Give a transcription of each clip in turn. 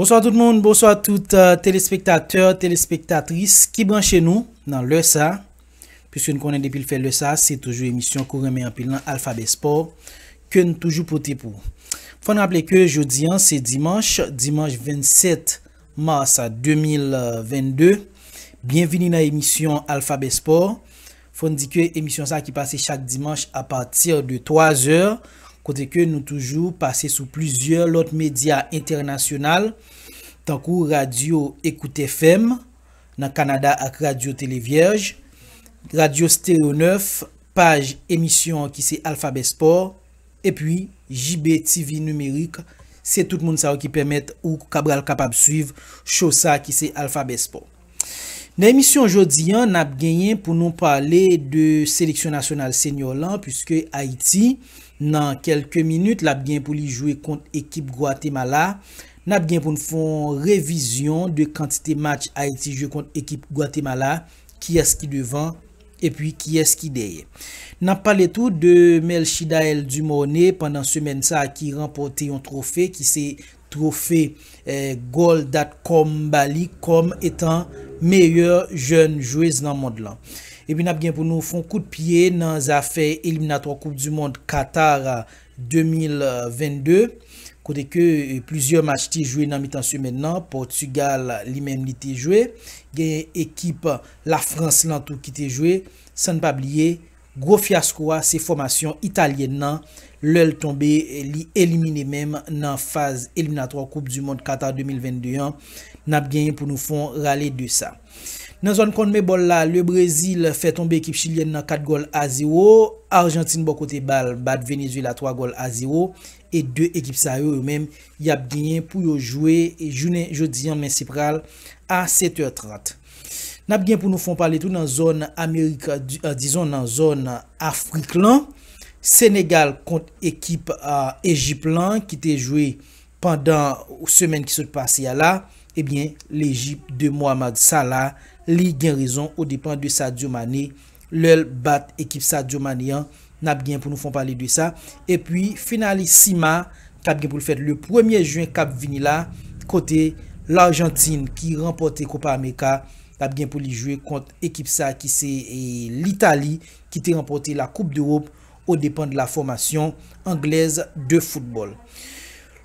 Bonswa tout moun, bonswa tout telespektatè, telespektatris ki branche nou nan lè sa. Piske n konnen depi l fè lè sa, se toujou emisyon ke w renmen anpil lan Alphabet Sport ke n toujou pote pou ou. Fò n raple ke jodi an se dimanch, dimanch 27 mars 2022. Byenvini nan emisyon Alphabet Sport. Fò n di ke emisyon sa ki pase chak dimanch a pati de 3 zè, kote ke nou toujou pase sou plizyè lòt medya entènasyonal, tankou radyo Écoute FM nan Kanada ak radyo Télé Vierge, radyo Stereo 9, paj emisyon an ki se Alphabet Sport, epi JB TV Numérique, se tout moun sa yo ki pèmèt ou kabral kapab swiv show sa ki se Alphabet Sport. Nan emisyon jodi an, n ap genyen pou nou pale de seleksyon nasyonal senior lan puiske Ayiti nan kelke minit l ap gen pou li jwe kont ekip Gwatemala. N ap gen pou n fon revizyon de kantite match Ayiti jwe kont ekip Gwatemala, kiyès ki devan epi kiyès ki dèyè. N ap pale tou de Melchidaël Dumornay pandan semèn sa ki ranpòte yon twofe ki se Twofe Goal Dat Com ba li kòm etan meyè jèn jwez nan mond lan. Epi nap gen pou nou fon kout pye nan zafè eliminatwa koup du mond Qatar 2022 kote ke plizyè match te jwe nan mitan semèn nan, Portugal li menm li te jwe, gen ekip la France lan tou ki te jwe, san n pa bliye. Gwo fyasko a se fòmasyon italyèn nan lè l tonbe li elimine menm nan faz eliminatwa koup du mond Qatar 2022 an nap genyen pou nou fon rale de sa. Nan zòn Conmebol la le Brezil fè tonbe ekip chilyèn nan 4 gòl a 0, Arjantin bò kote ba l bat Venezuela 3 gòl a 0 e 2 ekip sa yo yo menm yap genyen pou yo jwe jounen jodi an men se pral a 7 è 30. Nap gen pou nou fon pale tou nan zòn amerik dizon nan zòn afrik lan Senegal kont ekip Ejip lan ki te jwe pandan semèn ki sot pase a la ebyen lejip de Mohammad Salah li gen rezon odepan de Sadio Mané Lèl bat ekip Sadio Mané an nap gen pou nou fon pale de sa. Epi finali CIMA kap gen poul fèt le premye juin kap vini la kote L'Argentine ki ranpòte Copa America ap gen pou li jwe kont ekip sa ki se L'Italie ki te ranpòte la Coupe d'Europe o depan de la fòmasyon anglèz de football.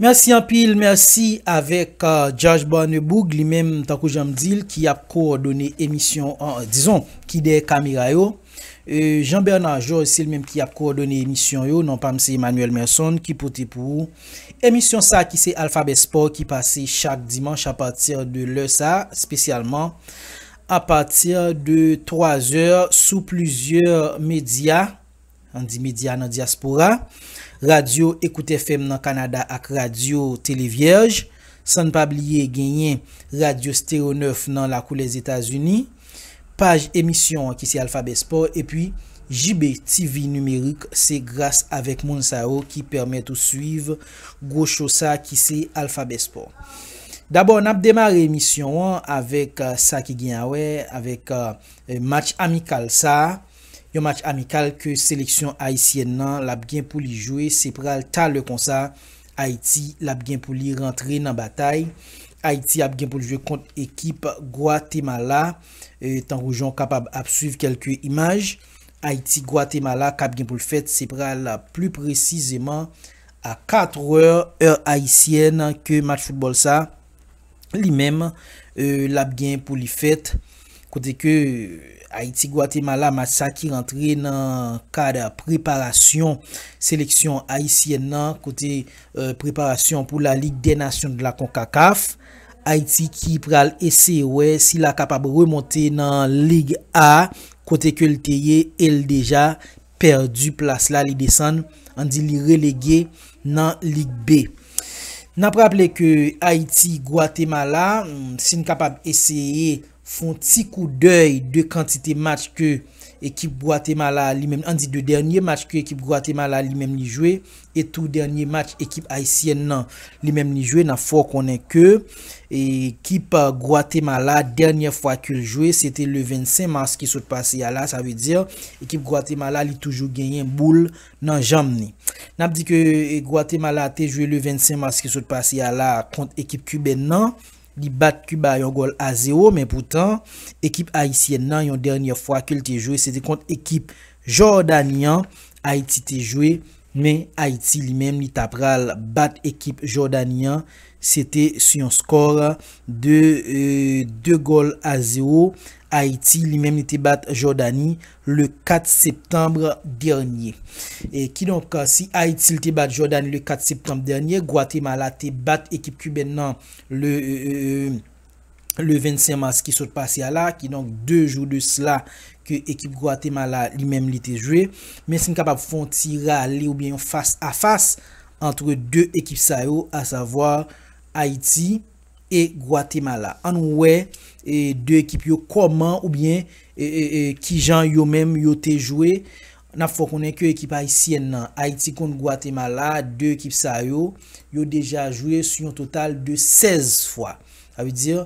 Merci anpil merci avek judge barneboug li menm tankou janm dil ki ap kowòdone emisyon an dizon ki dèyè kamera yo jean Bernard Georges se li menm ki ap kowòdone emisyon yo non pam se Emmanuel Merson ki pote pou ou emisyon sa ki se alfabè sport ki pase chak dimanch a pati de lè sa spesyalman a pati de 3 zè sou plizyè medya. Andy Media nan dyaspora, Radyo Ecoute FM nan Kanada ak Radyo Tele Vyèj, san n pa bliye genyen Radyo Stereo 9 nan lakou Lèzetazini, paj emisyon an ki se Alphabet Sport epi JB TV Numerique se gras avèk moun sa yo ki pèmèt ou swiv gwo cho sa ki se Alphabet Sport. Dabò n ap demare emisyon an avèk sa ki gen awè avèk match amikal sa. Yon match amikal ke seleksyon ayisyèn nan lap gen pou li jwe se pral talè konsa Ayiti lap gen pou li rantre nan batay. Ayiti ap gen pou l jwe kont ekip Gwatemala tankou jan w kapab ap swiv kelke imaj. Ayiti Gwatemala kap gen pou l fèt se pral pli presizeman a 4 è, è ayisyèn ke match foutbòl sa li menm lap gen pou li fèt kote ke Ayiti Gwatemala match sa ki rantre nan kad preparasyon seleksyon ayisyèn nan kote preparasyon pou la lig dè nasyon de la konkakaf Ayiti ki pral eseye wè si la kapab remonte nan lig a kote ke li te ye el deja pèdi plas la li desann, an di li relege nan Ligue B. N ap raple ke Ayiti, Gwatemala, si n kapab eseye fon ti koudèy 2 kantite match ke ekip Gwatemala li menm, an di 2 dènye match ke ekip Gwatemala li menm li jwe, E tou dènye match ekip ayisyèn nan li menm li jwe nap fè w konnen ke ekip Gwatemala dènyè fwa ke l jwe se te le 25 mars ki sot pase a la sa vle di ekip Gwatemala li toujou genyen boul nan janm ni. Nap di ke Gwatemala te jwe le 25 mars ki sot pase a la kont ekip Kibèn nan li bat Kiba yon gòl a zewo men poutan ekip ayisyèn nan yon dènyè fwa ke l te jwe se te kont ekip. Jordani an Ayiti te jwe men Ayiti li menm li ta pral bat ekip Jordani an se te sou yon skor de 2 gòl a 0 Ayiti li menm li te bat Jordani le 4 septanb dènye kidonk si Ayiti li te bat Jordani le 4 septanb dènye Gwatemala te bat ekip Kiben nan le. le 25 mas ki sot pase a la, kidonk 2 jou de sla ke ekip Gwatemala li menm li te jwe. Men si n kapab fè yon ti rale oubyen yon fas a fas antre 2 ekip sa yo asavwa Ayiti e Gwatemala. An n wè 2 ekip yo kòman oubyen kijan yo menm yo te jwe N ap fè w konnen ke ekip ayisyèn nan Ayiti kont Gwatemala, 2 ekip sa yo, yo deja jwe sou yon total de 16 fwa. Sa vle di,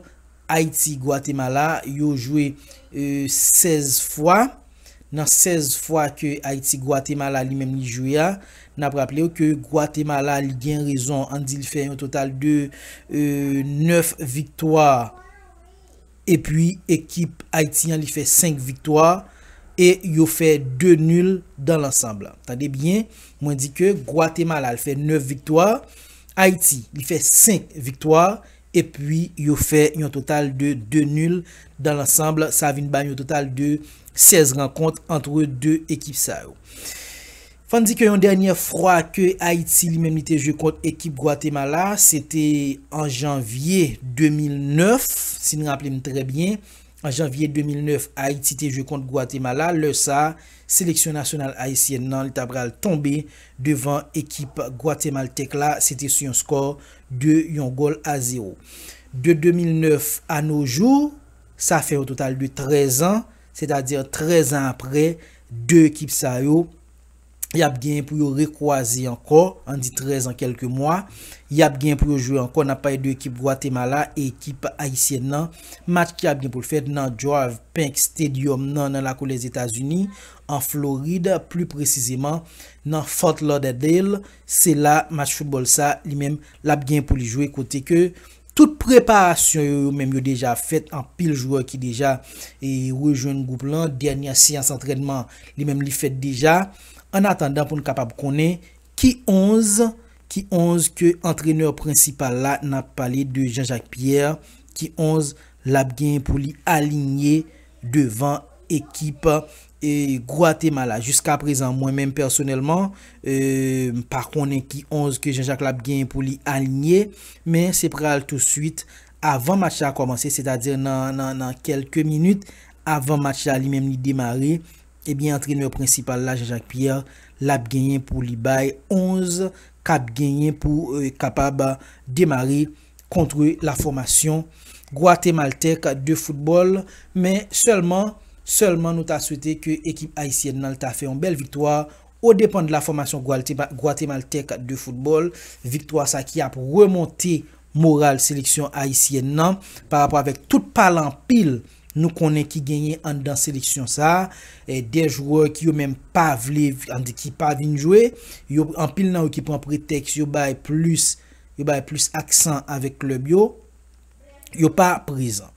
Ayiti, Gwatemala, yo jwe 16 fwa. Nan 16 fwa ke Ayiti, Gwatemala li menm li jwe a, n ap raple w ke Gwatemala li gen rezon, an n di li fè yon total de 9 viktwa, Epi ekip Ayiti an li fè 5 viktwa e yo fè 2 nul dans l'ensemble. Tande byen, mwen di ke Gwatemala li fè 9 viktwa, Ayiti li fè 5 viktwa epi yo fè yon total de 2 nul dans l'ensemble. Sa vin ba yon total de 16 rankont antre 2 ekip sa yo. Fòn di ke yon dènyè fwa ke Ayiti li menm li te jwe kont ekip Gwatemala, se te an janvye 2009, si n raple m trè byen, an janvye 2009 Ayiti te jwe kont Gwatemala, lè sa a seleksyon nasyonal ayisyèn nan li ta pral tonbe devan ekip gwatemaltèk la, se te sou yon skò 2 yon gòl a zewo. De 2009 a no jou, sa fè yon total de 13 an, Sètadi 13 an apre, 2 ekip sa yo, y ap genyen pou yo rekwaze ankò, an di 13 an kèlke mwa, y ap genyen pou yo jwe ankò, n ap pale de ekip Gwatemala e ekip ayisyèn nan, match ki ap gen pou l fèt nan Georv Pank Stadium nan nan lakou Lèzetazini, an Florid, pli presizeman nan Fort Lauderdale, se la match foutbòl sa, li menm, l ap genyen pou li jwe kote ke Tout preparasyon yo yo menm yo deja fèt anpil jwè ki deja rejwenn gwoup lan, dènyè seyans antrènman li menm li fèt deja, ann atandan pou n kapab konnen ki 11 ki 11 ke antrenè prensipal la n ap pale de Jean Jacques Pierre ki 11 l ap gen pou li alinye devan ekip Guatemala. Jiska prezan mwen menm pèsonèlman m pa konnen ki 11 ke Jean Jacques la ap genyen pou li alinye men se pral tou swit avan match la kòmanse sètadi nan kèlke minit avan match la li menm li demare ebyen antrenè prensipal la Jean Jacques Pierre l ap genyen pou li bay 11 k ap genyen pou kapab demare. kontre la fòmasyon gwatemaltèk de foutbòl men sèlman sèlman nou ta swete ke ekip ayisyèn nan ta fè yon bèl viktwa o depan de la fòmasyon gwatemaltèk de foutbòl viktwa sa ki ap remonte moral seleksyon ayisyèn nan pa rapò avèk tout pale anpil nou konnen ki genyen anndan seleksyon sa de jwè ki yo menm pa vle ki pa vin jwe yo anpil nan yo ki pran pretèks yo bay plis. Yo bay plis aksan avèk klèb yo. Yo pa prezan.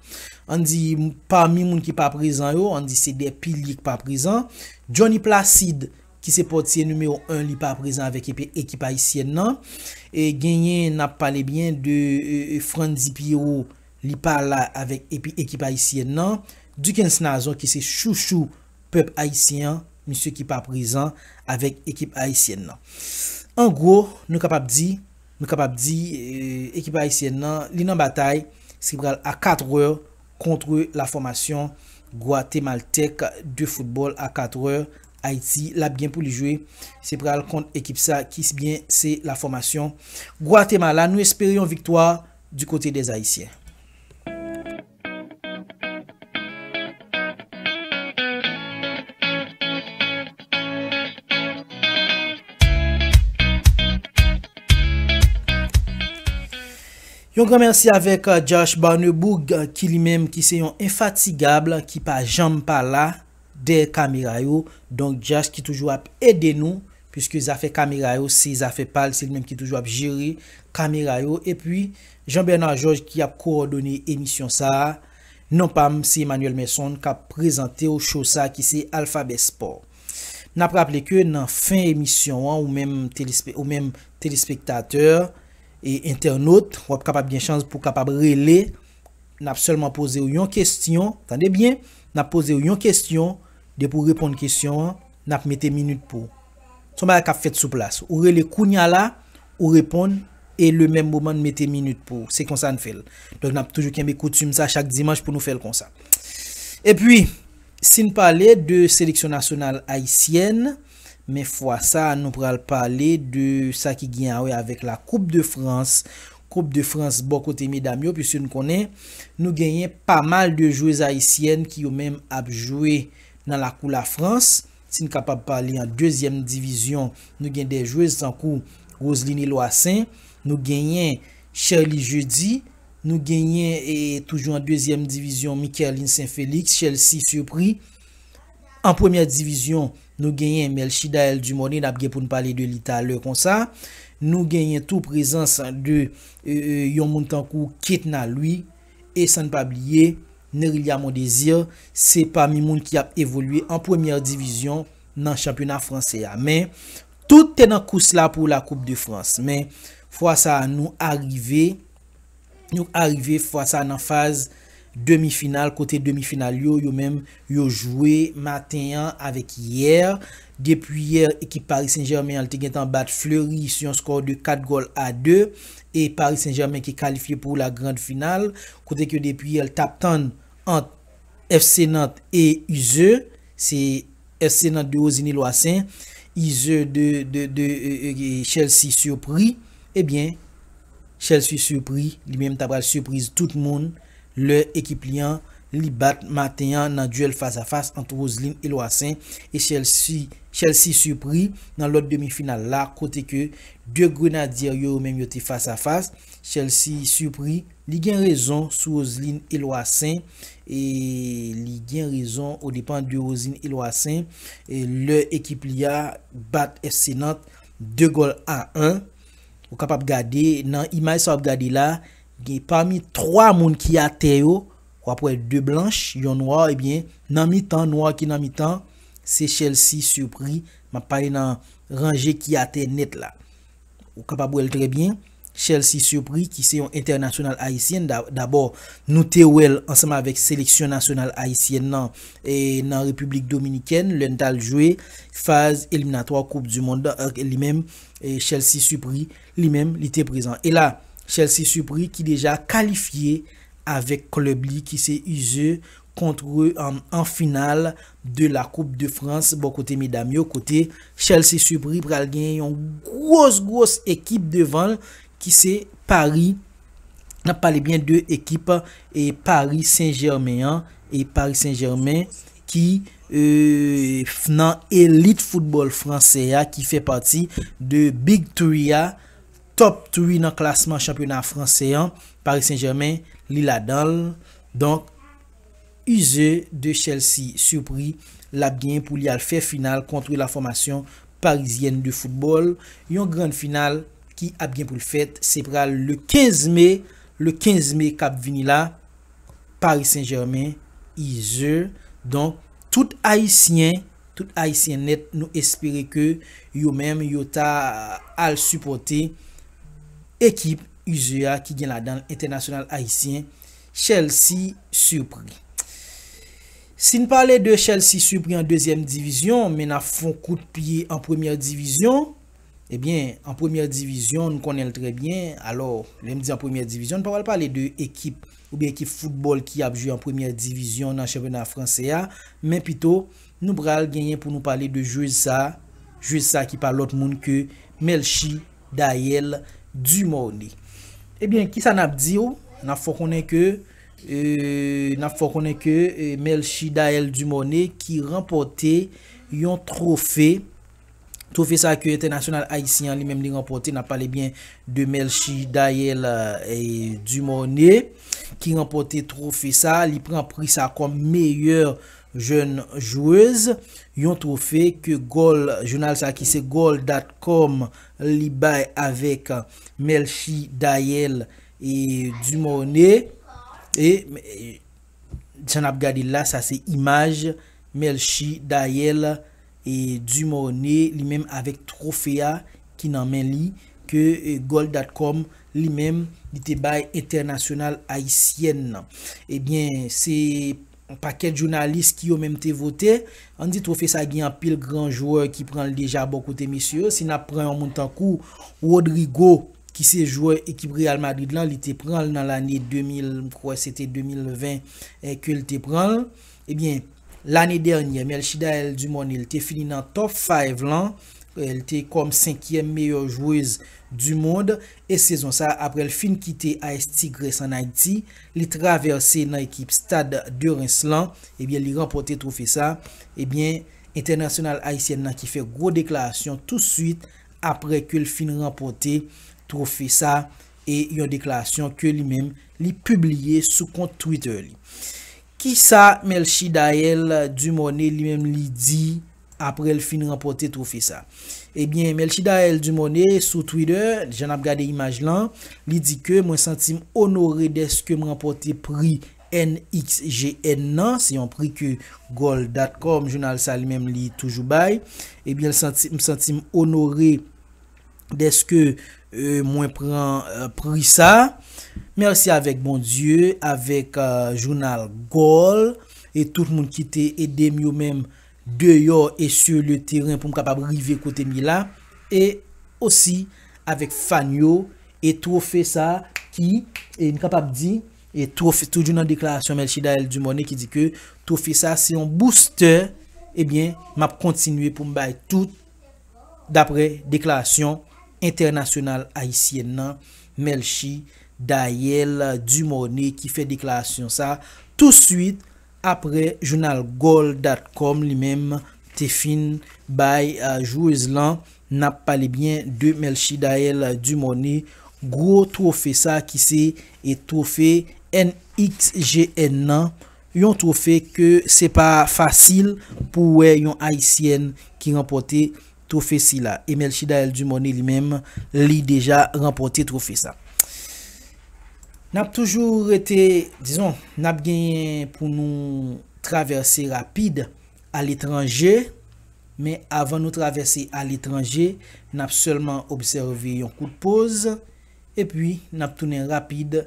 Ann di, pami moun ki pa prezan yo, ann di se 2 pilye ki pa prezan. Johnny Placide, ki se pòtye nimewo 1, li pa prezan avèk ekip ayisyèn nan. E genyen, n ap pale byen de Frantzy Pierrot, li pa la avèk ekip ayisyèn nan. Duckens Nazon ki se chouchou. pèp ayisyen an, misye ki pa prezan avèk ekip ayisyèn nan. An gwo, nou kapab di, nou kapab di ekip ayisyèn nan, li nan batay, se pral a 4 è, kontre la fòmasyon gwatemaltèk de foutbòl a 4 è, Ayiti, l ap gen pou li jwe, se pral kont ekip sa ki byen se la fòmasyon Gwatemala. Nou espere yon viktwa di kote dèzayisyen. Yon gran mèsi avèk Josh Barneboug ki li menm ki se yon enfatigab ki pa janm pa la dèyè kamera yo. Donk Josh ki toujou ap ede nou pwiske zafè kamera yo se zafè pa l, se li menm ki toujou ap jere kamera yo. Jean Bernard Georges ki ap kowòdone emisyon sa a. Non pa m se Emmanuel Merson k ap prezante w show sa ki se Alphabet Sport. N ap raple ke nan fen emisyon an ou menm telespe ou menm telespektatè e entènot w ap kapab gen chans pou w kapab rele n ap sèlman poze w yon kestyon tande byen n ap poze w yon kestyon depi w reponn kestyon an n ap mete minit pou Son bagay kap fèt sou plas. Ou rele kounya la, ou reponn e le menm moman n mete minit pou ou. Se konsa n fè l. Donk nap toujou kenbe koutim sa chak dimanch pou nou fè l konsa. Epi, si n pale de seleksyon nasyonal ayisyèn, men fwa sa nou pral pale de sa ki gen a wè avèk la koup de Frans. Koup de Frans bò kote medam yo, piske n konnen nou genyen pa mal de jwez ayisyèn ki yo menm ap jwe nan lakou la Frans. Si n kapab pale an dezyèm divizyon, nou gen 2 jwez tankou Roseline Eloissaint, nou genyen Sherlie Jeudy, nou genyen toujou an dezyèm divizyon Mikerline Saint Felix, Chelsea Surpris. An premyè divizyon, nou genyen Melchidaël Dumornay n ap gen pou n pale de li talè konsa. Nou genyen tou prezans de yon moun tankou Ketna Louis. E san n pa bliye, Nerilha Mondesir se pami moun ki ap evolye an premyè divizyon nan chanpyona fransè a. Men, tout te nan kous la pou la koup de Frans. Men, fwa sa a nou arive, nou arive fwa sa a nan faz demi final, kote demi final yo, yo menm, Yo jwe maten an avèk yè. Depi yè ekip Paris Saint Germain an te gentan bat Fleury sou yon skò de 4 gòl a 2 e Paris Saint Germain ki kalifye pou la grand final kote ke depi yè l tap tann ant FC Nantes e Uzeu se FC Nantes de Rosiny Loissaint Uzeu de Chelsea surpris ebyen Chelsea surpris li menm ta pral surprise tout moun. Lè ekip li an li bat maten an nan duel fas a fas ant Roseline Eloissaint e Chelsea Surpris nan lòt demi final la kote ke 2 Grenadier yo yo menm yo te fas a fas Chelsea Surpris li gen rezon sou Roseline Eloissaint e li gen rezon o depan de Roseline Eloissaint e lè ekip li a bat FC Nantes 2 gòl a 1 ou kapab gade nan imaj sa wap gade la. Gen pami 3 moun ki atè yo, wap wè 2 blanch, yon nwa ebyen nan mitan nwa ki nan mitan se Chelsea Surpris map pale nan ranje ki atè nèt la. Ou kapab wèl trè byen Chelsea Surpris ki se yon entènasyonal ayisyen dabò nou te wèl ansanm avèk seleksyon nasyonal ayisyèn nan nan Repiblik Dominikèn lè n tal jwe faz eliminatwa koup du mond li menm Chelsea Surpris Li menm li te prezan. E la, Chelsea supri ki deja kalifye avèk klèb li ki se Uze kontre an final de la koup de Frans bò kote medam yo kote Chelsea supri pral gen yon gwos gwos ekip devan l ki se Pari n ap pale byen de ekip Pari Sen Jèmen an e Pari Sen Jèmen ki f nan elit foutbòl fransè a ki fè pati de Big Three a, Top Three nan klasman chanpyona fransè an, Paris Saint Germain li ladan l, donk use de Chelsea surpris l ap genyen pou li al fè final kontre la formation parisienne de football, yon grand final ki ap gen pou l fèt se pral le 15 me, le 15 me k ap vini la. Paris Saint Germain, Ize, donk tout ayisyen, tout ayisyen nèt nou espere ke yo menm yo ta al sipòte ekip Ize a ki gen ladan l entènasyonal ayisyen Chelsea Surpris. Si n pale de Chelsea Surpris an dezyèm divizyon men n ap fon kout pye an premyè divizyon. Ebyen, an premyè divizyon, n konnen l trè byen. Alò, lè m di an premyè divizyon, n pa pral pale de ekip oubyen ekip foutbòl ki ap jwe an premyè divizyon nan chanpyona franse a, men pito, nou pral genyen pou nou pale de jwez sa, jwez sa ki pa lòt moun ke Melchie Daël Dumornay. Ebyen, kisa n ap di w? N ap fè w konnen ke, n ap fè w konnen ke Melchie Daël Dumornay ki ranpòte yon twofe, Twofe sa ke entènasyonal ayisyen an li menm li ranpòte, n ap pale byen de Melchie Daëlle Dumornay ki ranpòte twofe sa, li pran pri sa kòm meyè jèn jwez, yon twofe ke Goal, jounal sa ki se Goal.com li bay avèk Melchie Daëlle Dumornay, e jan n ap gade l la sa se imaj Melchie Daëlle. E Dumorne li menm avèk twofe a ki nan men li ke Goal.com li menm li te bay entènasyonal ayisyèn nan. Ebyen se yon pakèt jounalis ki yo menm te vote. An di twofe sa gen anpil gran jwè ki pran l deja bò kote mesye yo. Si n ap pran yon moun tankou Rodrygo ki se jwè ekip Real Madrid lan li te pran l nan lane 2000 m kwè se te 2020 ke l te pran l. Ebyen, lane dènyè, Melchidaëlle Dumornay te fini nan top five lan, l te kòm senkyèm meyè jwez du mond, e sezon sa aprè l fin kite AS Tigres an Ayiti, li travèse nan ekip Stade de Reims lan, ebyen li ranpòte twofe sa, ebyen entènasyonal ayisyèn nan ki fè gwo deklarasyon tou swit aprè ke l fin ranpòte twofe sa, e yon deklarasyon ke li menm li pibliye sou kont Twitter li. Kisa Melchie Daelle Dumornay li menm li di aprè l fin ranpòte twofe sa? Ebyen Melchie Daelle Dumornay sou Twitter, jan n ap gade imaj lan, li di ke mwen santi m onore dèske m ranpòte pri NXGN nan, se yon pri ke Goal.com, jounal sa li menm li toujou bay, ebyen l santi, m santi m onore. deske mwen pran pri sa. Merci avek Bondye avek jounal Goal e tout moun ki te edem yo menm deyò e sur le terrain poum kapab rive kotem ye la e osi avek fan yo e trofe sa ki e m kapab di e trofe toujou nan deklarasyon Melchidael Dumornay ki di ke trofe sa se yon booster ebyen map kontinye poum bay tout dapre deklarasyon entènasyonal ayisyèn nan Melchie Daëlle Dumornay ki fè deklarasyon sa tou swit apre jounal Goal.com li menm te fin bay jwez lan nap pale byen de Melchie Daëlle Dumornay gwo twofe sa ki se twofe NXGN nan Yon twofe ke se pa fasil pou wè yon ayisyèn ki ranpòte twofe sila. E Melchidaël Dumornay li menm, li deja ranpòte twofe sa. Nap toujou rete, dizon, nap genyen pou nou travèse rapid aletranje, men avan nou travèse aletranje, nap sèlman obsève yon kout poz, epi nap tounen rapid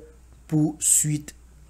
pou swit.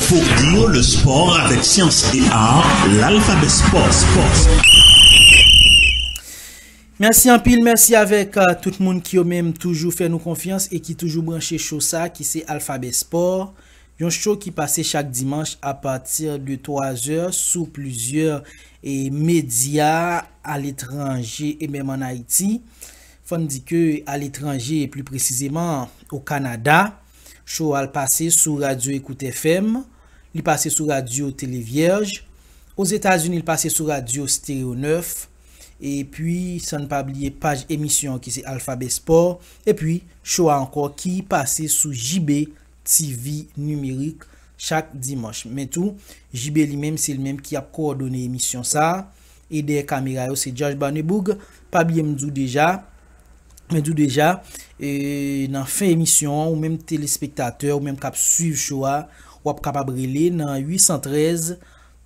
Folklore, le sport avec science et art, l'alphabet sport, sport. Mèsi anpil, mèsi avèk euh, tout moun ki yo menm toujou fè nou konfyans e ki toujou branche cho sa ki se Alphabet Sport, yon cho ki pase chak dimanch a pati de 3 zè sou plizyè e medya aletranje e menm an Ayiti. Fò n di ke aletranje, pli presizeman o Kanada. Show a pase sou Radio Ecoute FM, li pase sou Radio Télé Vierge, Ozetazini li pase sou Radio Stereo 9, epi san n pa bliye paj emisyon an ki se Alphabet Sport, epi show a ankò ki pase sou JB TV Numérique chak dimanch. Men tou, JB li menm se li menm ki ap kowòdone emisyon sa. e dèyè kamera yo se Jòj Barneboug, pa bliye m di w deja, mwen di w deja e nan fen emisyon an ou menm telespektatè ou menm k ap swiv cho a w ap kapab rele nan 813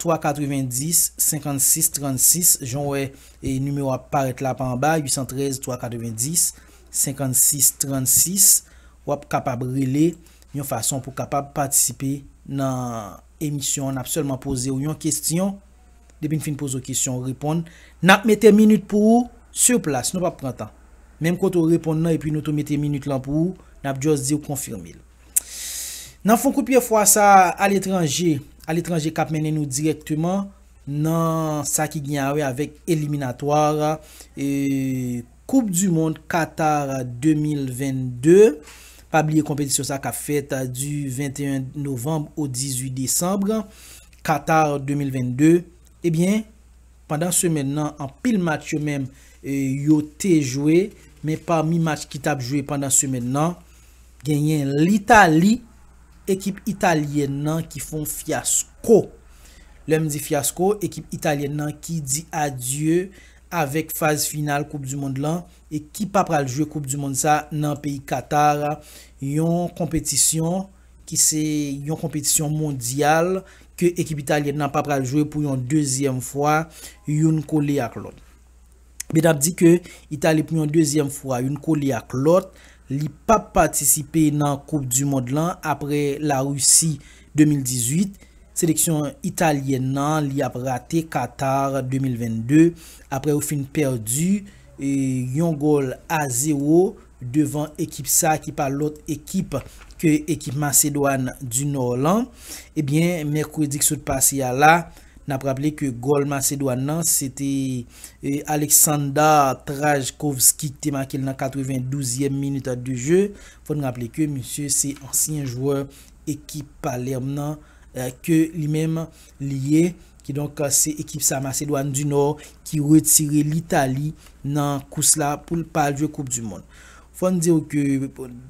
390 56 36 jan w wè e nimewo a ap parèt la pa anba 813 390 56 36 w ap kapab rele yon fason pou kapab patisipe nan emisyon an n ap sèlman poze w yon kesyon. Depi n fin poze w kesyon ou reponn, n ap mete minit pou ou sur plas, nou p ap pran tan. Menm kote ou reponn nan epi nou tou mete minit lan pou ou, n ap just di w konfime l. Nan fon kou pye fwa sa a aletranje, aletranje k ap mennen nou dirèkteman nan sa ki gen a wè avèk eliminatwa Koup du mond Qatar 2022, pa bliye konpetisyon sa kap fèt du 21 Novanb au 18 Desanb, Qatar 2022, ebyen pandan semèn nan anpil match yo menm yo te jwe men pami match ki tap jwe pandan semèn nan genyen L'Italie, ekip Italyèn nan ki fon fyasko. Lèm di fyasko, ekip Italyèn nan ki di adye avèk faz final koup du mond lan e ki pa pral jwe koup du mond sa nan peyi Qatar yon konpetisyon ki se yon konpetisyon mondyal ke ekip italyèn nan pa pral jwe pou yon dezyèm fwa youn kole ak lòt. Met ap di ke Italie pou yon dezyèm fwa youn kole ak lòt Li pap patisipe nan koup du mond lan aprè la Russie 2018, seleksyon Italyèn nan li ap rate Qatar 2022 aprè yo fin pèdu yon gòl a 0 devan ekip sa ki pa lòt ekip ke ekip Masedwàn du Nò lan. Ebyen mèkredi k sot pase a la N ap raple ke gòl Masedwàn nan se te Aleksandar Trajkovski ki te make l nan 92 zièm minit de je. Fò n raple ke misye se ansyen jwè ekip Palerme nan ke li menm li ye. Kidonk se ekip sa Masedwàn di Nò ki retire Litali nan kous la pou l pa al jwe koup du mond. Fò n di w ke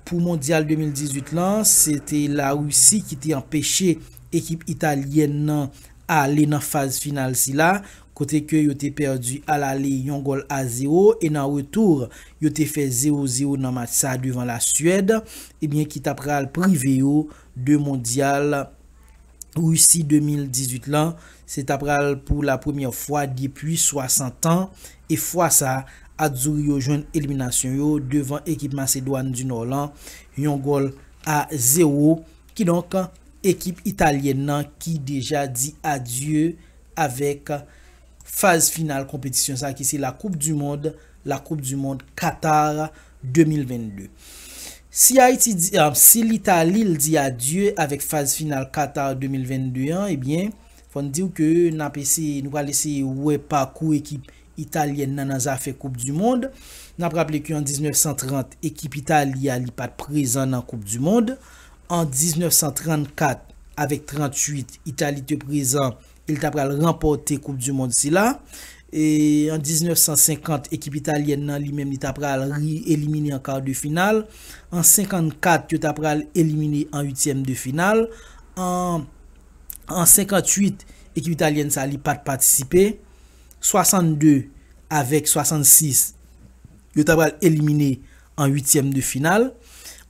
pou Mondyal 2018 lan, se te Larisi ki te anpeche ekip Italyèn nan ale nan faz final sila, kote ke yo te pèdi alale yon gòl a zewo e nan retour yo te fè zewo zewo nan match sa devan La Suède, ebyen ki ta pral prive yo de Mondyal. Russie 2018 lan, se ta pral pou la premyè fwa depwi 60 an, e fwa sa, Azzurri yo jwenn eliminasyon yo devan ekip Masedwàn di Nò lan, yon gòl a zewo. Kidonk, ekip italyèn lan ki deja di adye avèk Faz final konpetisyon sa ki se la koup du mond, la koup du mond Qatar 2022. Si Ayiti di, si l'Italie l di adye avèk faz final Qatar 2022 an ebyen fò n diw ke nap eseye, nou pral eseye wè pakou ekip Italyèn nan nan zafè koup du mond. Nap raple ke an 1930 ekip Italie a li pat prezan nan koup du mond. An 1934 avèk 38 Italie te prezan Li ta pral ranpòte koup du mond sila. E an 1950 ekip italyèn nan li menm li ta pral ri elimine an kar de final. An 54 yo ta pral elimine an uityèm de final. An an 58 ekip italyèn sa li pat patisipe. 62 avèk 66 yo ta pral elimine an uityèm de final.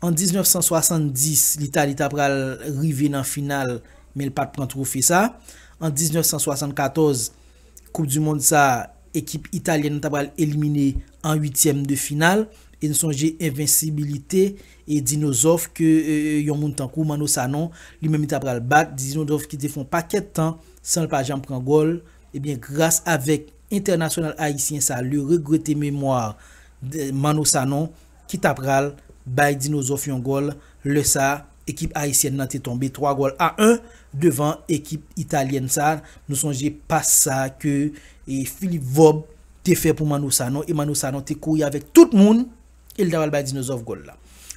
An 1970, Litali ta pral rive nan final men l pa t pran twofe sa. An 1974, koup di mond sa a, ekip italyèn nan ta pral elimine an uityèm de final. E n sonje envensibilite dinozòf ke yon moun tankou Manno Sanon li menm li ta pral bat, dinozòf ki te fè yon pakèt tan san l pa janm pran gòl. Ebyen gras avèk. Entènasyonal Ayisyen sa le regrete memwa de Manno Sanon ki ta pral bay Dinozòf yon gòl lè sa ekip Ayisyèn nan te tonbe 3 gòl a 1 devan ekip Italyèn sa nou sonje pas sa ke Philippe Vob te fè pou Manno Sanon e Manno Sanon te kouri avèk tout moun e li ta pral bay Dinozof gòl la.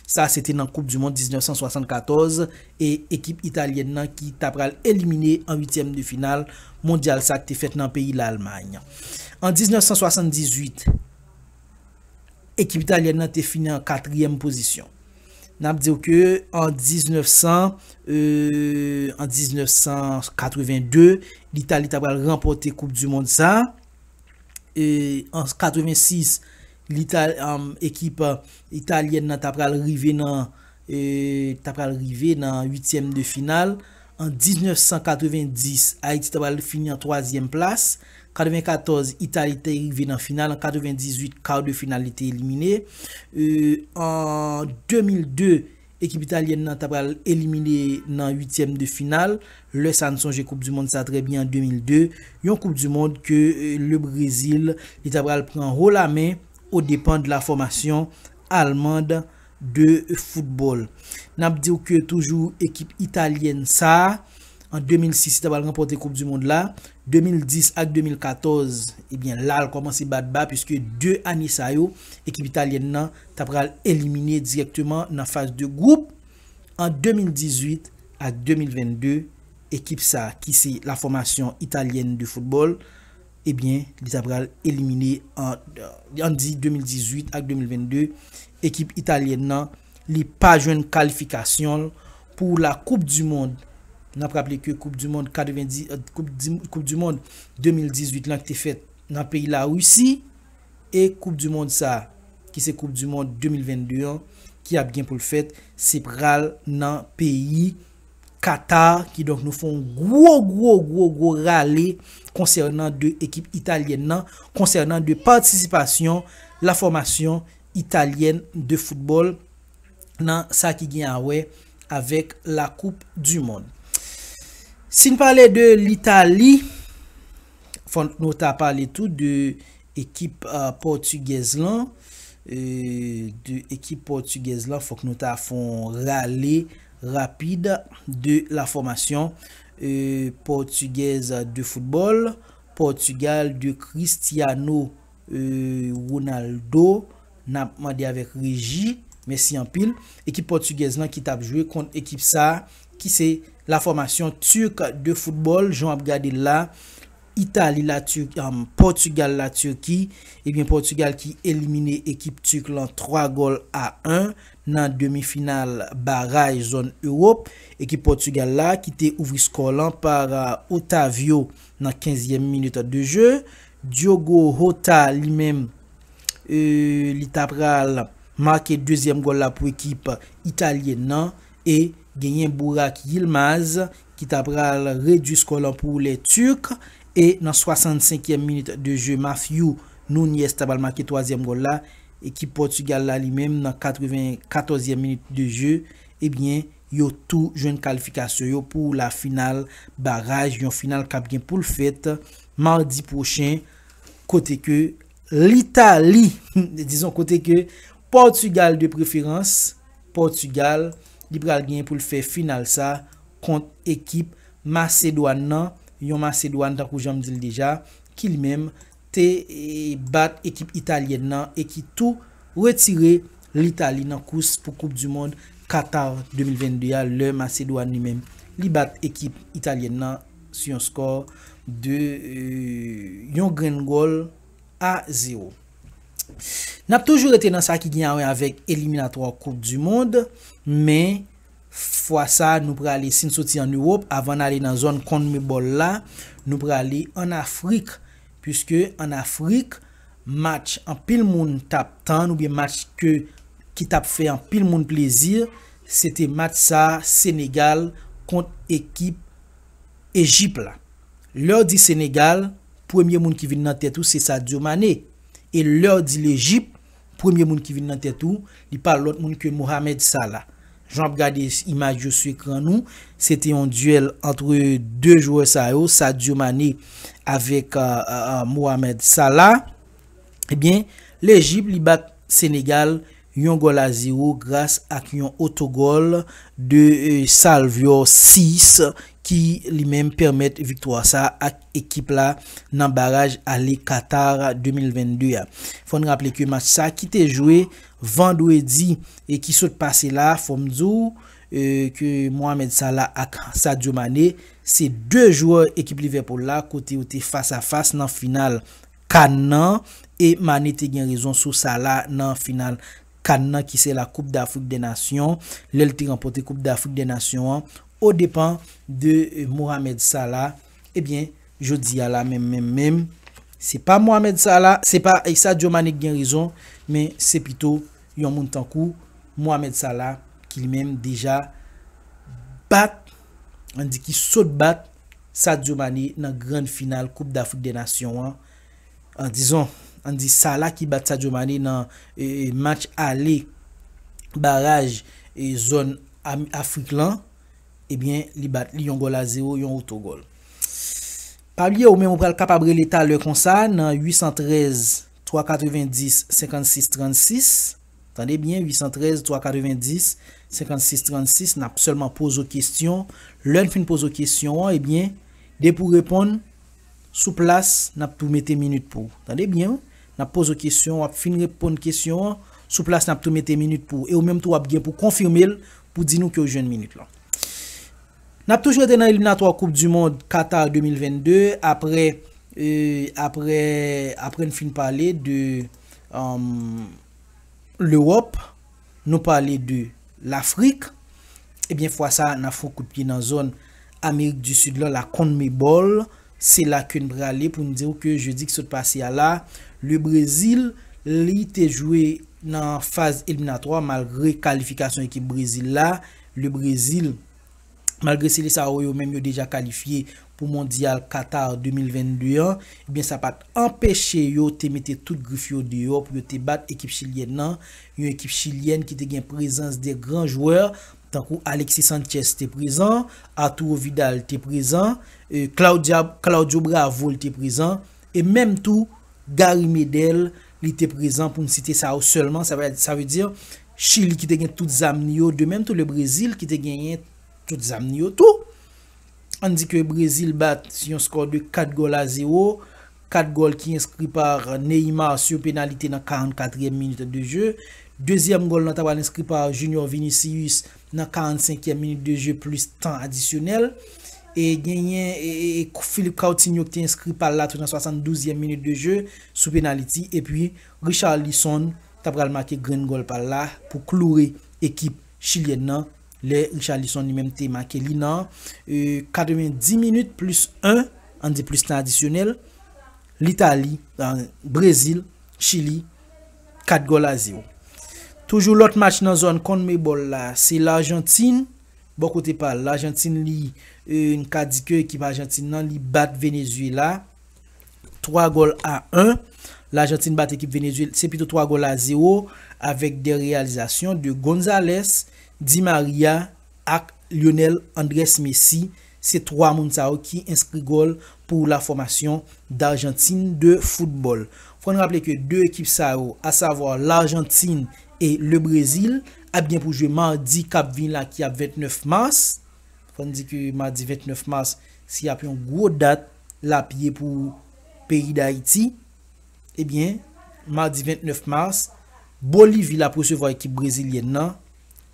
Sa se te nan koup dimond 1974 e ekip italyèn nan ki ta pral elimine an uityèm de final mondyal sa ki te fèt nan peyi Lalmay. An 1978, ekip italyèn nan te fini an katriyèm pozisyon. N ap di w ke an 1982, Litali ta pral ranpòte koup dimond sa. E an 86, Ekip Italyèn nan ta pral rive nan ta pral rive nan uityèm de final. An 1990, Ayiti ta pral fini an twazyèm plas. 94, Itali te rive nan final. An 98, kar de final li te elimine. An 2002, Ekip italyèn nan ta pral elimine nan uityèm de final, lè sa n sonje koup du mond sa trè byen an 2002, yon koup du mond ke le Brezil li ta pral pran ho la men o depan de la fòmasyon allemand de football. N ap di w ke toujou ekip italyèn sa An 2006 li ta pral ranpòte koup du mond la, 2010 ak 2014 ebyen la l kòmanse bat ba puiske 2 ane sa yo ekip italyèn nan ta pral elimine dirèkteman nan faz de gwoup. An 2018 ak 2022 ekip sa ki se la fòmasyon italyèn de foutbòl ebyen li ta pral elimine an an di 2018 ak 2022 ekip italyèn nan li pa jwenn kalifikasyon l Pou la koup du mond, n ap raple ke koup du mond 90, koup du mond 2018 lan ki te fèt nan peyi la Risi e koup du mond sa ki se koup du mond 2022 an ki ap gen pou l fèt se pral nan peyi Katar ki donk nou fon gwo gwo gwo gwo rale konsènan de ekip Italyèn nan konsènan de patisipasyon la fòmasyon Italyèn de foutbòl. nan sa ki gen a wè avèk la koup du mond. Si n pale de Litali, fòk nou ta pale tou de ekip pòtigèz lan, de ekip pòtigèz lan fòk nou ta fè yon rale rapid de la fòmasyon pòtigèz de foutbòl, Pòtigal de Cristiano Eeuh Ronaldo nap mande avèk reji mèsi anpil. Ekip pòtigèz lan ki tap jwe kont ekip sa ki se la fòmasyon turk de football jan wap gade l la Itali la Turk am Portugal la Turki ebyen Portugal ki elimine ekip turk lan 3 gòl a 1 nan demi final baray zòn Ewop ekip Portugal la ki te ouvri skò lan par Otavio nan 15 yèm minit de jeu Diogo Jota li menm li ta pral make dezyèm gòl la pou ekip Italyen nan e genyen Burak Yilmaz ki ta pral redui skò lan pou lè Turk e nan 65 yèm minit de je Mathieu Nunez ta pral make twazyèm gòl la ekip Pòtugal la li menm nan 94 yèm minit de je ebyen yo tou jwenn kalifikasyon yo pou la final baraj yon final kap gen poul fèt Mardi pwochen, kote ke Litali, dizon kote ke Pòtugal de preferans, Pòtugal, li pral genyen pou l fè final sa kont ekip Masedwàn nan, yon Masedwàn tankou jan m di l deja, ki li menm te bat ekip Italyèn nan e ki tou retire Litali nan kous pou koup du mond Qatar 2022 a lè Masedwàn li menm li bat ekip Italyèn nan. sou yon skò de yon grenn gòl a zewo. N ap toujou rete nan sa ki gen awè avèk eliminatwa koup di mond, men fwa sa nou prale si n soti an Ewop avan n ale nan zòn Conmebol la, nou prale an Afrik, puiske an Afrik match anpil moun t ap tann oubyen match ke ki t ap fè anpil moun plezi, se te match sa Senegal kont ekip. Ejip la. Lèw di Senegal, premye moun ki vin nan tèt ou se Sadio Mané. E lèw di Lejip, premye moun ki vin nan tèt ou, li pa lòt moun ke Mohamed Salah. Jan wap gade imaj yo sou ekran nou, se te yon duel antre 2 jwè sa yo, Sadio Mané avèk Mohamed Salah. Ebyen, Lejip li bat Senegal, yon gòl a zero gras ak yon otogòl de Salvio Ciss ki li menm pèmèt viktwa sa ak ekip la nan baraj ale Qatar 2022 a. Fò n raple ke match sa ki te jwe vandredi ki sot pase la, fò m di w ke Mohamed Salah ak Sadio Mané se 2 jwè ekip Liverpool la kote yo te fas a fas nan final. Kan nan, e Mane te gen rezon sou sa la nan final Kan nan ki se la Koup Dafrik dè Nasyon, lè l te ranpòte Koup Dafrik dè Nasyon an o depan de Mohamed Salah, ebyen jodi a la menm menm menm, se pa Mohamed Salah, se pa Sadio Mane ki gen rezon, men se pito yon moun tankou Mohamed Salah ki li menm deja bat, an di ki sot bat. Sadio Mané nan grann final koup dAfrik dè Nasyon an, an dizon, an di Salah ki bat Sadio Mané nan match ale baraj zòn Afrik lan, ebyen li bat li yon gòl a zewo, yon otogòl. Pa bliye ou menm ou pral kapab rele talè konsa nan 813 390 56 36. Tande byen 813 390 56 36 nap sèlman poze w kesyon, lè n fin poze w kesyon an ebyen depi w reponn sou plas nap tou mete minit pou w. Tande byen wi, nap poze w kesyon wap fin reponn kesyon an sou plas nap tou mete minit pou w e ou menm tou wap gen pou konfime l pou di nou ke w jwenn minit lan. Nap toujou rete nan eliminatwa koup du mond Qatar 2022 aprè aprè n fin pale de. Lewòp, nou pale de Lafrik, ebyen fwa sa nan fon kout pye nan zòn Amerik di Sid lan, la Conmebol, se la ke n prale pou n di w ke jedi ki sot pase a la, le Brezil li te jwe nan faz eliminatwa malgre kalifikasyon ekip Brezil la, le Brezil. malgre sele sa yo yo menm yo deja kalifye pou mondyal Qatar 2022 an, ebyen sa pat anpeche yo te mete tout grif yo deyò pou yo te bat ekip chilyèn nan, yon ekip chilyèn ki te gen prezans 2 gran jwè tankou Alexis Sanchez te prezan, Arturo Vidal te prezan, Claudio Bravo li te prezan, e menm tou Gary Medel li te prezan pou n site sa yo sèlman, sa vle di Chili ki te gen tout zam li yo, de menm tou le Brezil ki te genyen tout zam li yo tou. Ann di ke Brezil bat sou yon skò de 4 gòl a 0, 4 gòl ki enskri pa Neymar sou yon penalite nan 44 èm minit de je. Dezyèm gòl lan ta pral enskri pa Junior Vinicius nan 45 èm minit de je plis tan adisyonèl. E genyen Philippe Coutinho ki te enskri pa l la tou nan 72 èm minit de je sou penaliti. E pi Richarlison ta pral make grenn gòl pal la pou kloure ekip chilyèn nan lè Richarlison li menm te make li nan 90 minit plis 1 an di plis tan adisyonèl Litali Brezil Chili 4 gòl a 0. Toujou lòt match nan zòn Conmebol la se Largentine bò kote pal Largentine li n ka di ke ekip Argentine nan li bat Venezuela. 3 gòl a 1. Lajantin bat ekip Venezuela, se pito 3 gòl a 0 avèk 2 reyalizasyon de Gonzalez, Di Maria ak Lionel Andres Messi. Se 3 moun sa yo ki enskri gòl pou la fòmasyon d'Argentine de football. Fò n raple ke 2 ekip sa yo, a savwa L'Argentine et le Brésil ap gen pou jwe madi kap vini la ki ap 29 mars. Fò n di ke madi 29 mars se ap yon gwo dat. lap ye pou peyi Dayiti, ebyen madi 29 mas, Bolivi lap resevwa ekip brezilyèn nan,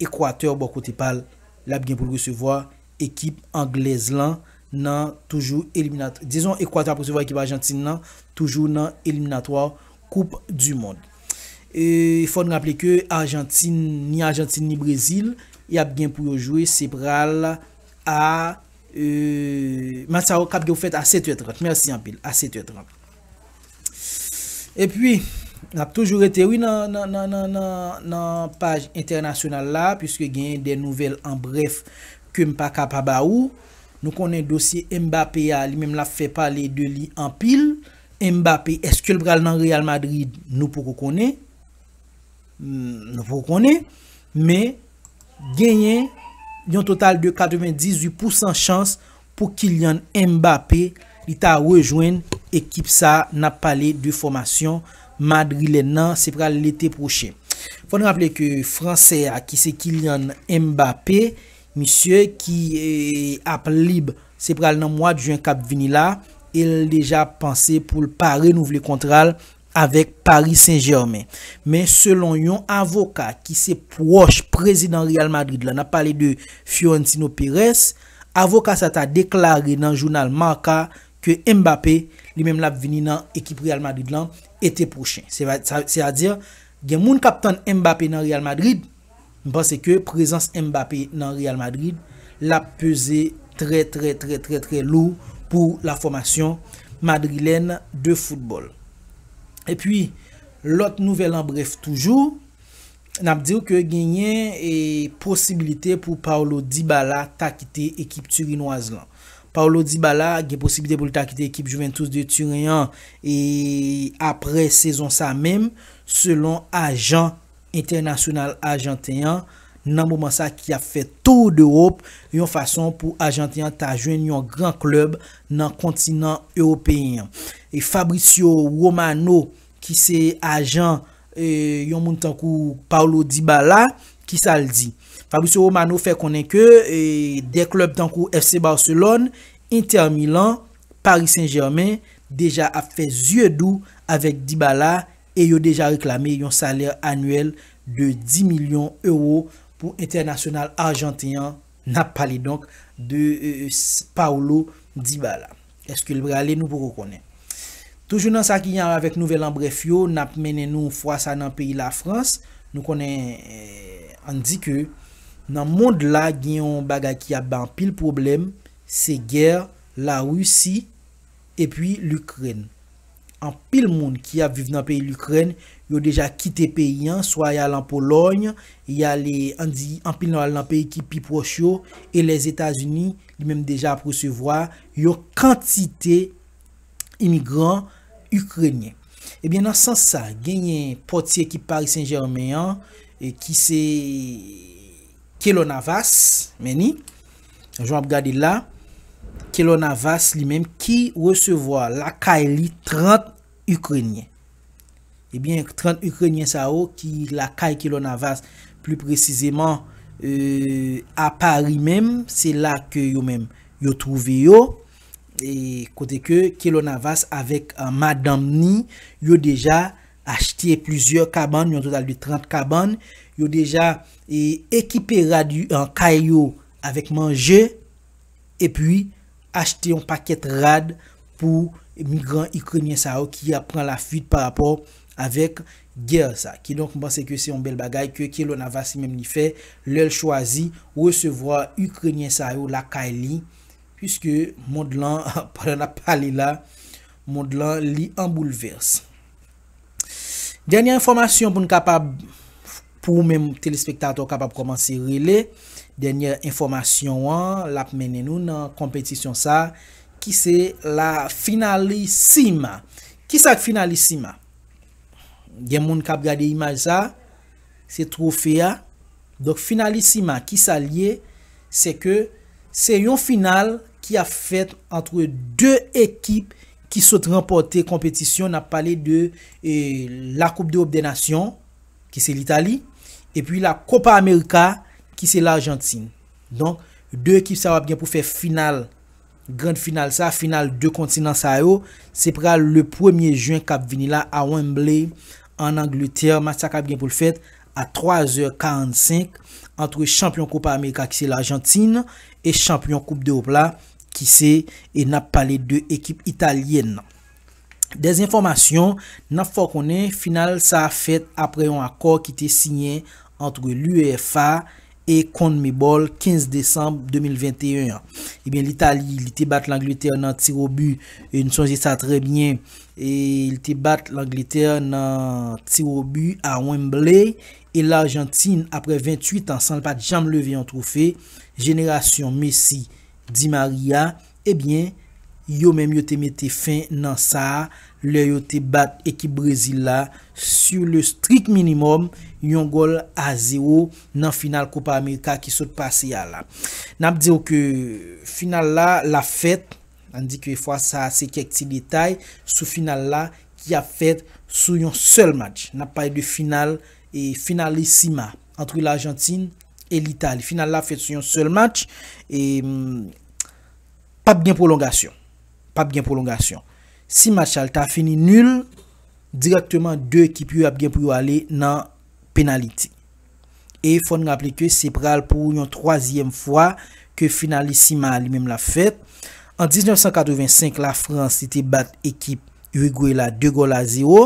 Ekwatè bò kote pal lap gen poul resevwa ekip anglèz lan nan toujou eliminat dizon Ekwatè ap resevwa ekip Ajantin nan toujou nan eliminatwa koup du mond. E fòn raple ke Ajantin ni Ajantin ni Brezil yap gen pou yo jwe se pral a Euhh match sa yo kap gen fèt a 7 è 30 merci anpil a 7 è 30 epi nap toujou rete wi nan nan nan nan nan nan paj entènasyonal la puiske genyen de nouvèl an brèf kem pa ka pa ba ou nou konnen dosye Mbappé a li menm lap fè pale de li anpil Mbappé eskel pral nan Real Madrid nou poko konnen. Nou pou konnen, men genyen yon total de 98 pousan chans pou Kylian Mbappé li ta rejwenn ekip sa nap pale de fòmasyon madrilèn nan, se pral lete pwochen. Fòn raple ke fransè a ki se Kylian Mbappé, misye ki ap lib se pral nan mwad jen kap vini la, el deja panse poul pa renouvle kontral avèk Paris Saint-Germain. Men selon yon avoka ki se pwòch prezidan Real Madrid la, n ap pale de Fiorentino Perez, avoka sa ta deklare nan jounal Marca ke Mbappé li menm l ap vini nan ekip Real Madrid lan ete pwochen. Se a di gen moun k ap tann Mbappé nan Real Madrid. M panse ke prezans Mbappé nan Real Madrid lap peze trè trè trè trè trè lou pou la fòmasyon Madrilèn de football. Epi lòt nouvèl an brèf toujou, nap diw ke genyen posibilite pou Paulo Dybala ta kite ekip Turinwaz lan. Paulo Dybala gen posibilite pou l ta kite ekip Juventus de Turen an apre sezon sa menm selon ajan. entènasyonal ajanten an nan moman sa ki ap fè tour d'Europe yon fason pou ajanten an ta jwenn yon gran klèb nan kontinan ewopeyen an. Fabrizio Romano ki se ajan yon moun tankou Paulo Dybala kisa l di? Fabrizio Romano fè konnen ke 2 klèb tankou FC Barcelone, Inter Milan, Paris Saint Germain deja ap fè zye dou avèk Dybala e yo deja reklame yon salè anyèl de 10 milyon ewo pou entènasyonal arjanten an, n ap pale donk de Paulo Dybala. Eske l prale? Nou poko konnen. Toujou nan sa ki an avèk nouvèl an brèf yo, n ap mennen nou fwa sa nan peyi Lafrans. Nou konnen, ann di ke nan mond la gen yon bagay ki ap bay anpil pwoblèm, se gè Larisi epi Likrèn. Anpil moun ki ap viv nan peyi Likrèn yo deja kite peyi an, swa y al an Polòy, y ale an di anpil nan yo al nan peyi ki pi pwòch yo, e Lèzetazini li menm deja ap resevwa yon kantite imigran Ikrenyen. Ebyen nan sans sa, genyen pòtye ki Pari Sen Jèmen an ki se Kelo Navas, men ni, Jan wap gade l la, Keylor Navas li menm ki resevwa lakay li 30 Ikrenyen. Ebyen 30 Ikrenyen sa yo ki lakay Keylor Navas, pli presizeman a Pari menm, se la ke yo menm yo twouve yo. E kote ke Keylor Navas avèk madanm ni, yo deja achte plizyè kabann, yon total de 30 kabann. Yo deja achte. Ekipe rad kay yo avèk manje epi achte yon pakèt rad pou migran Ikrenyen sa yo ki ap pran lafuit pa rapò avèk gè sa. Kidonk m panse ke se yon bèl bagay ke Kelo Navasi menm li fè lè l chwazi resevwa Ikrenyen sa yo lakay li puiske mond lan pandan n ap pale la mond lan li an boulvès. Dènye enfòmasyon pou n kapab. Pou ou menm telespektatè ou kapab kòmanse rele. Dènyè enfòmasyon an l ap mennen nou nan konpetisyon sa ki se la finalissima. Kisa k finalissima? Gen moun k ap gade imaj sa, se twofe a. Donk finalissima kisa l ye? Se ke se yon final ki ap fèt antre 2 ekip ki sot ranpòte konpetisyon, n ap pale de la koup dErop dè nasyon. ki se Litali, epi la Copa America ki se Larjantin. Donk, 2 ekip sa yo ap gen pou fè final, grand final sa, final 2 kontinan sa yo, se pral le premye jen k ap vini la a Wembley an Angletè, match sa k ap gen pou l fèt a 3 zè 45 antre chanpyon Copa America ki se Larjantin e chanpyon koup dErop la ki se, e n ap pale de ekip Italyèn nan. Dezenfòmasyon, N ap fè w konnen final sa fèt aprè yon akò ki te siyen antre l'UEFA e Conmebol 15 desanm 2021 an. Ebyen Litali li te bat Langletè nan tir o but, n sonje sa trè byen, li te bat Langletè nan tir o but a Wembley e Larjantin aprè 28 an san l pa t janm leve yon twofe, jenerasyon Messi, Di Maria. Ebyen, yo menm yo te mete fen nan sa lè yo te bat ekip Brezil la sur le strict minimum, yon gòl a zewo nan final Copa America ki sot pase a la. N ap di w ke final la l ap fèt, an di ke fwa sa a se kèk ti detay sou final la ki ap fèt sou yon sèl match. N ap pale de final Finalissima entre l'Argentine. e Litali. Final la ap fèt sou yon sèl match e pap gen pwolongasyon. Pap gen pwolongasyon. Si match sa ta fini nul, dirèkteman 2 ekip yo ap gen pou yo ale nan penaliti. E fò n raple ke se pral pou yon twazyèm fwa ke Finalissima a li menm l ap fèt. An 1985, Lafrans li te bat ekip Irigwe la 2 gòl a zewo.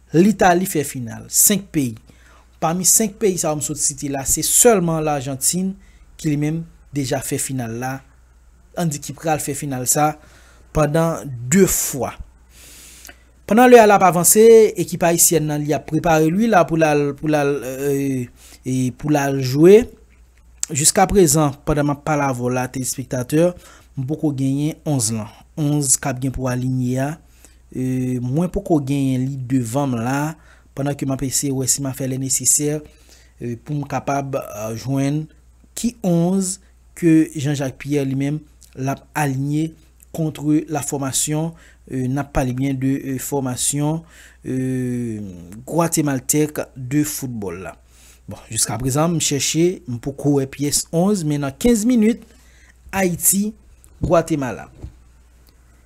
Litali fè final. 5 peyi. Pami 5 peyi sa yo m sot site la se sèlman Larjantin ki li menm deja fè final la, an di ki pral fè final sa pandan 2 fwa. Pandan lè a l ap avanse, ekip ayisyèn nan li ap prepare l wi la pou l al pou l al pou l al jwe. Jiska prezan pandan m ap pale avè w la telespektatè, m poko genyen 11 lan. 11 k ap gen pou alinye a. Mwen poko genyen li devan m la pandan ke m ap eseye wè si m a fè le nesesè pou m kapab jwenn ki 11 ke Jean Jacques Pierre li menm l ap alinye kontre la fòmasyon, n ap pale byen de fòmasyon gwatemaltèk de foutbòl la. Bon, jiskaprezan m chèche, m poko wè pyès 11 men nan 15 minit Ayiti, Gwatemala.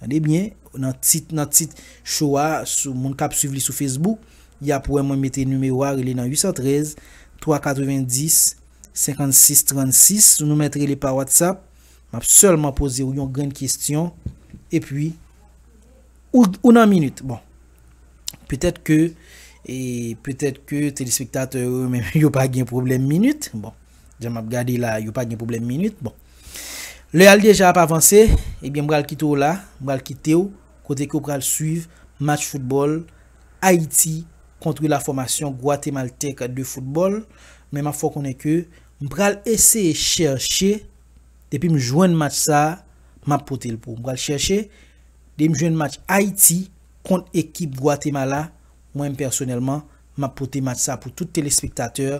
Tande byen, nan tit, nan tit show a, sou moun kap swiv li sou Facebook, yap wè mwen mete nimewo a rele nan 813 390 56 36, nou mèt rele pa WhatsApp, map sèlman poze ou yon grenn kestyon, epi ou ou nan minit, bon petèt ke e petèt ke telespektatè yo menm yo pa gen pwoblèm minit, bon. Jan map gade la yo pa gen pwoblèm minit bon lè al deja ap avanse ebyen m pral kite w la m pral kite w kote ke w pral swiv match foutbòl Ayiti kontre la fòmasyon gwatemaltèk de foutbòl men map fè w konnen ke m pral eseye chèche depi m jwenn match sa map pote l pou w m pral chèche depi m jwenn match Ayiti kont ekip gwatemala mwen m pèsonèlman map pote match sa pou tout telespektatè.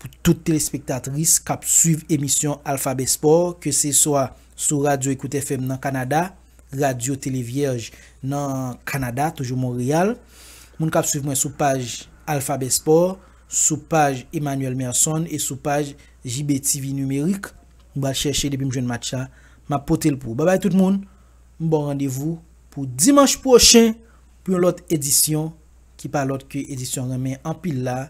Pou tout telespektatris k ap swiv emisyon Alphabet Sport ke se swa sou Radyo Ecoute FM nan Kanada, Radyo Tele Vyèj nan Kanada, toujou Monreyal, moun k ap swiv mwen sou paj Alphabet Sport, sou paj Emmanuel Merson e sou paj JBTV Numeric, m pral chèche depi m jwenn match la, m ap pote l pou ou. Babay tout moun, m ba w randevou pou dimanch pwochen pou yon lòt edisyon ki pa lòt ke edisyon Renmen Anpil la